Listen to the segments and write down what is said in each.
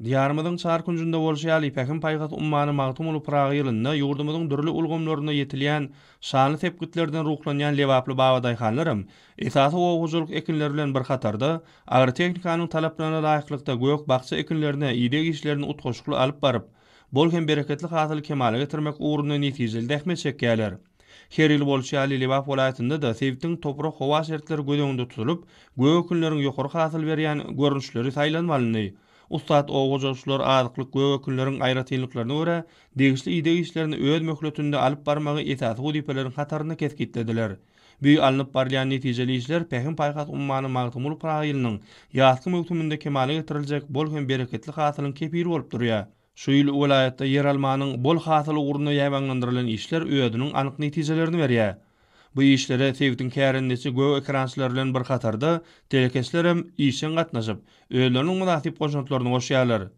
Diýarymyzyň çar künjünde bolşy ýaly, Pähim-paýhas ummany Magtymguly Pyragy ýylynda ýurdumyzyň dürli ulgamlarynda ýetilýän şanly sepgitlerden ruhlanýan lebaply babadaýhanlaram esasy oba hojalyk ekinleri bilen bir hatarda, agrotehnikanyň talaplaryna laýyklykda gök-bakja ekinlerine ideg işlerini utgaşykly alyp baryp, bol hem bereketli hasyly kemala getirmek ugrunda netijeli zähmet çekýärler. Her ýyl bolşy ýaly Lebap welaýatynda-da sebitiň toprak-howa şertleri göz öňünde tutulyp, gök ekinleriň ýokary hasyl berýän görnüşleri saýlanmalyny. Ussat oba hojalykçylar azyklyk gök ekinleriň aýratynlyklaryna görä, degişli ideg işlerini öz möhletinde alyp barmagy esasy wezipeleriň hatarynda kesgitlediler. Bü alnyp barylýan netijeli işler Pähim-paýhas ummany Magtymguly Pyragy ýylynyň ýazky möwsüminde kemala getiriljek bol hem bereketli hasylyň kepili bolup durýar. Şu ýyl welaýatda ýeralmanyň bol hasyly ugrunda ýabanylandyrylan işler özüniň anyk netijelerini berýär. Bu işlere sebitiň kärendeçi gök ekerançylary bilen bir hatarda telekeçlerem işjeň gatnaşyp, özleriniň mynasyp goşantlaryny goşýarlar.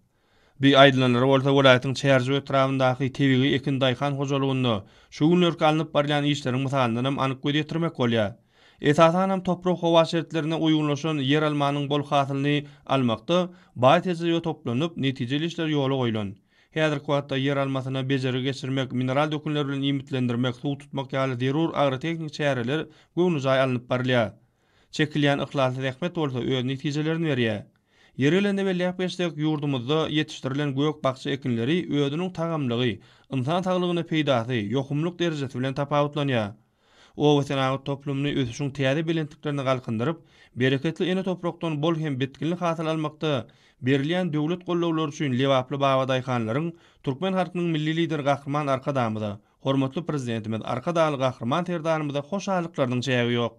Bir aýdylanlary bolsa welaýatyň Çärjew etrabyndaky tebigy ekin daýhan hojalygynda şu günlerki alnyp barylýan işleriň mysalyndanam anyk göz ýetirmek bolýar. Esasanam toprak-howa şertlerine uýgunlaşan ýeralmanyň bol hasylyny almakda baý tejribe toplanyp, netijeli işler ýola goýlan. Häzirki wagtda ýeralmasyna bejergi geçirmek, mineral dökünler bilen iýmitlendirmek, suw tutmak ýaly zerur agrotehniki çäreler göwnejaý alnyp barylýar. Çekilýän yhlasly zähmet bolsa öz netijelerini berýär. Ýeri gelende belläp geçsek, ýurdumyzda ýetişdirilen gök-bakja ekinleri özüniň tagamlygy, ynsan saglygyna peýdasy, ýokumlyk derejesi bilen tapawutlanýar. Obasenagat toplumyny ösüşiň täze belentliklerine galkyndyryp, bereketli ene toprakdan bol hem bitginli hasyl almakda berilýän döwlet gollawlary üçin lebaply babadaýhanlaryň, türkmen halkynyň Milli Lideri Gahryman Arkadagymyza, hormatly Prezidentimiz Arkadagly Gahryman Serdarymyza hoşallyklarynyň çägi ýok.